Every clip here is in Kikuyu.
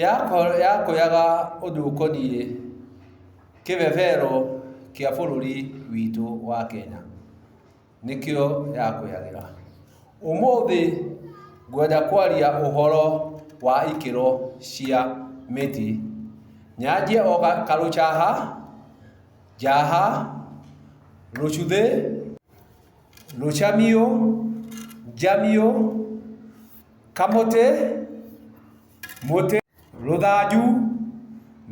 Yakũyaga ũndũ ũkoniĩ kĩbebero kĩa bũrũri witũ wa Kenya, nĩkĩo yakũyagĩra. Ũmũthĩ ngwenda kwaria ũhoro wa ikĩro cia mĩtĩ. Nyanjie o karũcaha, njaha, rũcuthĩ, rũcamio, njamio, Kamũtĩ, mũtĩ. Rũthanju,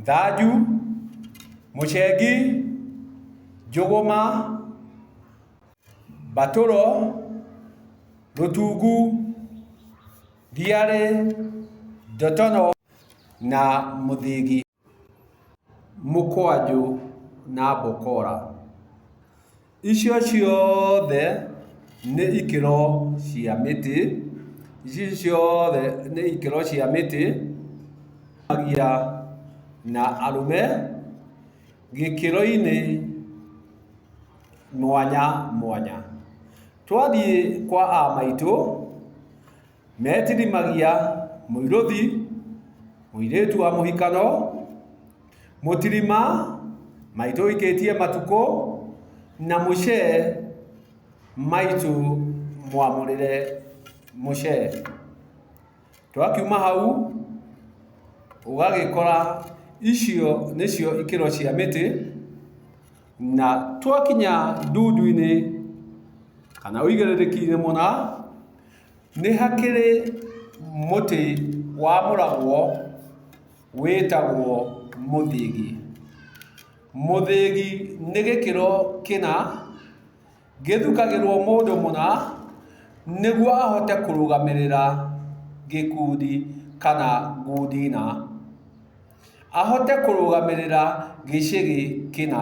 nthanju. Mũcengi, njũgũma. Mbatũro, rũtungu. Thiarĩ, ndotono na mũthĩgi. mũkwanjũ na mbokora. Icio ciothe nĩ ikĩro cia mĩtĩ, icio ciothe nĩ ikĩro cia mĩtĩ cia na arũme gĩkĩro-inĩ mwanya mwanya. Twathiĩ kwa a maitũ... metithimagia mũirũthi, mũirĩtu wa mũhikano, mũtirima, maitũ ũikĩtie matukũ, na mũcee, maitũ mwamũrĩre mũcee. Twakiuma hau, ũgagĩkora icio nĩcio ikĩro cia mĩtĩ, na twakinya ndundu-inĩ kana ũigĩrĩrĩki-inĩ mũna, Nĩ hakĩrĩ mũtĩ wa mũragwo wĩtagwo mũthĩgi. Mũthĩgi nĩ gĩkĩro kĩna, gĩthukagĩrwo mũndũ mũna nĩguo ahote kũrũgamĩrĩra gĩkundi kana ngundi na. Ahote kũrũgamĩrĩra gĩcĩgĩ kĩna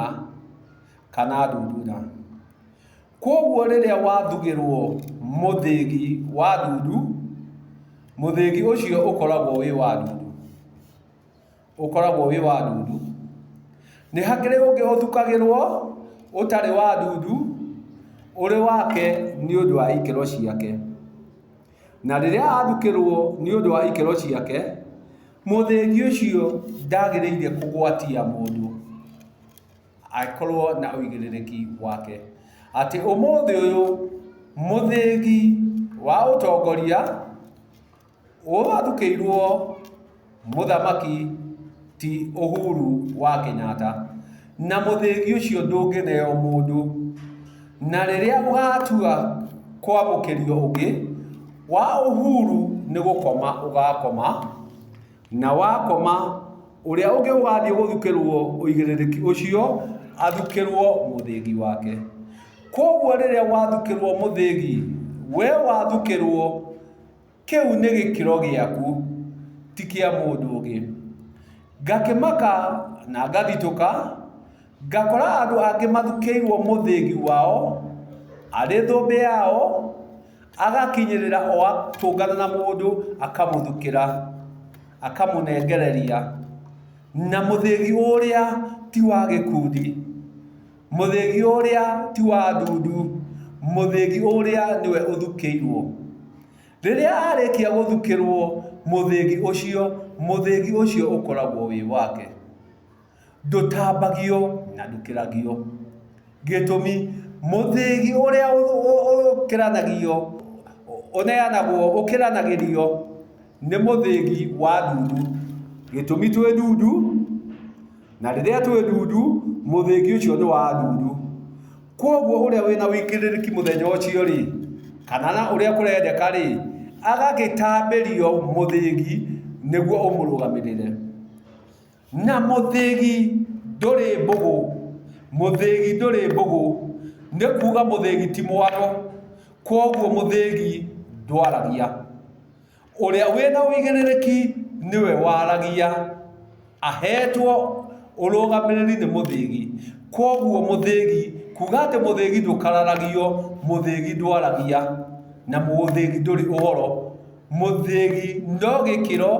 kana ndundu na. Kwoguo rĩrĩa wathugĩrũo mũthĩgi wa ndundu, mũthĩgi ũcio ũkoragwo wĩ wa ndundu, ũkoragwo wĩ wa ndundu. Nĩ hakĩrĩ ũngĩ ũthukagĩrũo ũtarĩ wa ndundu, ũrĩ wake nĩ ũndũ wa ikĩro ciake. Na rĩrĩa athukĩrũo nĩ ũndũ wa ikĩro ciake, mũthĩgi ũcio ndagĩrĩire kũgwatia mũndũ. akorwo na ũigĩrĩrĩki wake. Atĩ ũmũthĩ ũyũ mũthĩgi wa ũtongoria ũrathukĩirwo mũthamaki ti Uhuru wa Kenyatta. Na mũthĩgi ũcio ndũngĩneo mũndũ. Na rĩrĩa ũgatua kwamũkĩrio ũngĩ, wa Uhuru nĩ gũkoma ũgakoma. Na wakoma, ũrĩa ũngĩ ũgathiĩ gũthukĩrũo ũigĩrĩrĩki ũcio athukĩrũo mũthĩgi wake. Kwoguo rĩrĩa wathukĩrũo mũthĩgi, wee wathukĩrũo, kĩu nĩ gĩkĩro gĩaku, ti kĩa mũndũ ũngĩ. Ngakĩmaka na ngathitũka. Ngakora andũ angĩ mathukĩirwo mũthĩgi wao, arĩ thũmbĩ yao, agakinyĩrĩra o atũngana na mũndũ akamũthukĩra, akamũnengereria, na mũthĩgi ũrĩa ti wa gĩkundi, mũthĩgi ũrĩa ti wa ndundu, mũthĩgi ũrĩa nĩwe ũthukĩirwo. Rĩrĩa arĩkia gũthukĩrwo mũthĩgi ũcio, mũthĩgi ũcio ũkoragwo wĩ wake. ndũtambagio na ndũkĩragio. Gĩtũmi, mũthĩgi ũrĩa ũkĩranagio, ũneanagwo, ũkĩranagĩrio nĩ mũthĩgi wa ndundu. Gĩtũmi twĩ ndundu, na rĩrĩa twĩ ndundu, mũthĩgi ũcio nĩ wa ndundu. Kwoguo ũrĩa wĩna wĩigĩrĩrĩki mũthenya ũcio-rĩ, kana na ũrĩa kũrendeka-rĩ, agagĩtambĩrio mũthĩgi nĩguo ũmũrũgamĩrĩre. Na mũthĩgi ndũrĩ mbũgũ. Mũthĩgi ndũrĩ mbũgũ nĩ kuuga mũthĩgi ti mwaro, kwoguo mũthĩgi ndwaragia. Ũrĩa wĩ na ũigĩrĩrĩki nĩwe waragia, aheetwo ũrũgamĩrĩri nĩ mũthĩgi. Kwoguo mũthĩgi, kuuga atĩ mũthĩgi ndũkararagio, mũthĩgi ndwaragia, na mũthĩgi ndũrĩ ũhoro. mũthĩgi no gĩkĩro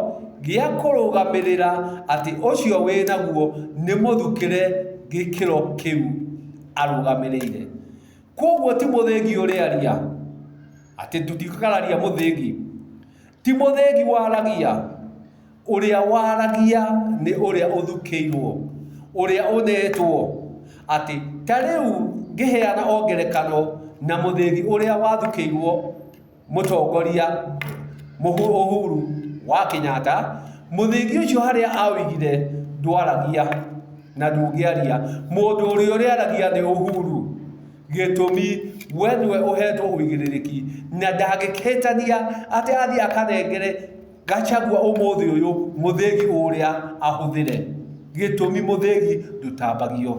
gĩa kũrũgamĩrĩra atĩ ũcio wĩnaguo nĩ mũthukĩre gĩkĩro kĩu arũgamĩrĩire. Kwoguo ti mũthĩgi ũrĩaria, atĩ tũtikararia mũthĩgi, ti mũthĩgi waragia, ũrĩa waragia nĩ ũrĩa ũthukĩirwo, ũrĩa ũnetwo, atĩ ta rĩu ngĩheana o ngerekano na mũthĩgi ũrĩa wathukĩirwo. Mũtongoria Uhuru wa Kenyatta, mũthĩgi ũcio harĩa aũigire ndwaragia na ndũngĩaria, mũndũ ũrĩa ũrĩaragia nĩ Uhuru, gĩtũmi we nĩwe ũhetwo ũigĩrĩrĩki, na ndangĩhĩtania atĩ athiĩ akanengere Gachagua ũmũthĩ ũyũ mũthĩgi ũrĩa ahũthĩre, gĩtũmi mũthĩgi ndũtambagio,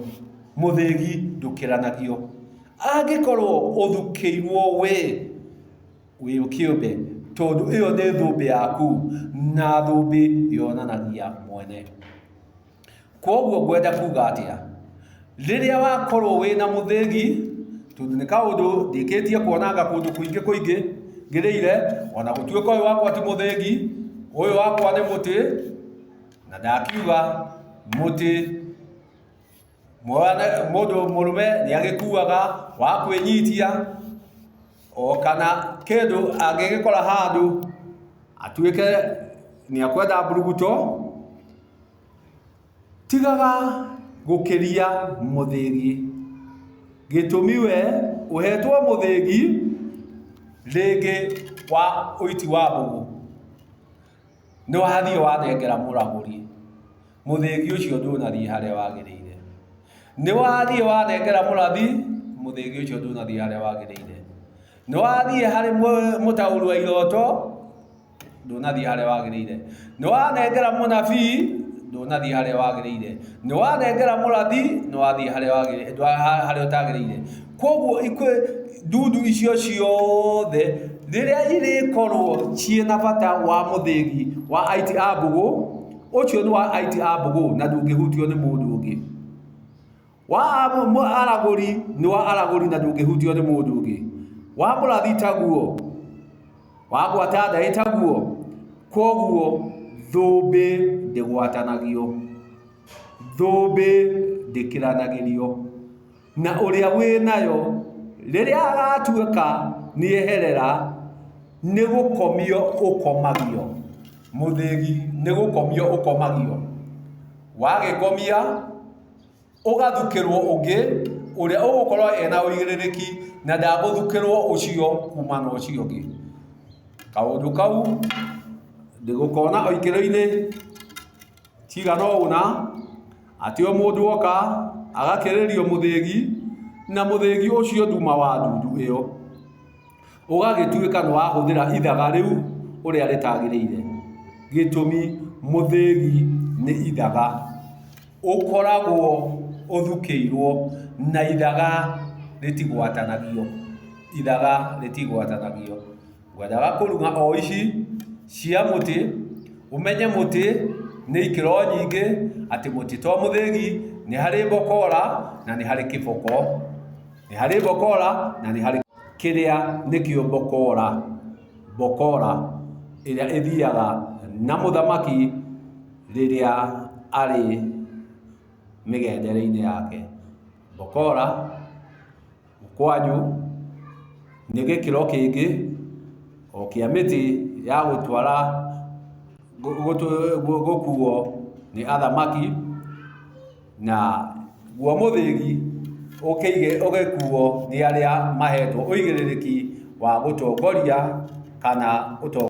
mũthĩgi ndũkĩranagio. Angĩkorwo ũthukĩirwo wĩ, wĩ kĩũmbe, tondũ ĩyo nĩ thũmbĩ yaku, na thũmbĩ yonanagia mwene. Kwoguo ngwenda kuga atĩa? Rĩrĩa wakorwo wĩ na mũthĩgi, tondũ nĩ kaũndũ ndĩkĩtie kuonanga kũndũ kũingĩ kũingĩ ngereire, ona gũtuĩka ũyũ wakwa ti mũthĩgi, ũyũ wakwa nĩ mũtĩ, na ndakiuga mũtĩ. mũndũ mũrũme nĩ agĩkuaga wa kwĩnyitia o kana kĩndũ angĩgĩkora handũ atuĩke nĩ ekwenda mburuguto, tigaga gũkĩria mũthĩgi. Gĩtũmi we ũhetwo mũthĩgi rĩngĩ wa ũiti wa mbũgũ. nĩ wathiĩ wathengera mũragũri mũthĩgi ũcio ndũnathiĩ harĩa wagĩrĩire, nĩ wathiĩ wathengera mũrathi mũthĩgi ũcio ndũnathiĩ harĩa wagĩrĩire, nĩ wathiĩ harĩ mũtaũri wa iroto ndũnathiĩ harĩa wagĩrĩire, nĩ wanengera mũnabii ndũnathiĩ harĩa wagĩrĩire, nĩ wanengera mũrathi nĩ wathiĩ harĩa ũtagĩrĩire. Kwoguo ndundu icio ciothe rĩrĩa irĩkorwo ciĩ na bata wa mũthĩgi wa aiti a mbũgũ, ũcio nĩ wa aiti a mbũgũ na ndũngĩhutio nĩ mũndũ ũngĩ. Wa aragũri nĩ wa aragũri na ndũngĩhutio nĩ mũndũ ũngĩ. Wa mũrathi taguo, wa gwata ndaĩ taguo. Kwoguo thũmbĩ ndĩgwatanagio, thũmbĩ ndĩkĩranagĩrio. Na ũrĩa wĩ nayo, rĩrĩa agatuĩka nĩeherera, nĩ gũkomio ũkomagio. Mũthĩgi nĩ gũkomio ũkomagio. Wagĩkomia, ũgathukĩrwo ũngĩ, ũrĩa ũgũkorwo ena ũigĩrĩrĩki na ndagũthukĩrwo ũcio kuma na ũcio ũngĩ. Kaũndũ kau ndĩgũkona o ikĩro-inĩ. Cigana ũna, atĩ o mũndũ oka agakĩrĩrio mũthĩgi, na mũthĩgi ũcio nduma wa ndundu ĩyo, ũgagĩtuĩka nĩ wahũthĩra ithaga rĩu ũrĩa rĩtagĩrĩire. Gĩtũmi, mũthĩgi nĩ ithaga. Ũkoragwo ũthukĩirwo na ithaga rĩtigwatanagio, ithaga rĩtigwatanagio. Thutha wa kũruga o ici cia mũtĩ, ũmenye mũtĩ nĩ ikĩro nyingĩ, atĩ mũtĩ to mũthĩgi, nĩ harĩ mbokora na nĩ harĩ kĩboko. Nĩ harĩ mbokora na nĩ harĩ. Kĩrĩa nĩkĩo mbokora. Mbokora ĩrĩa ĩthiaga na mũthamaki rĩrĩa arĩ mĩgendere-inĩ yake. Mbokora. Mũkwajũ nĩ gĩkĩro kĩngĩ o kĩa mĩtĩ ya gũtwara gũkuo nĩ athamaki, na guo mũthĩgi ũgĩkuo nĩ arĩa mahetwo ũigĩrĩrĩki wa gũtongoria kana ũtongoria.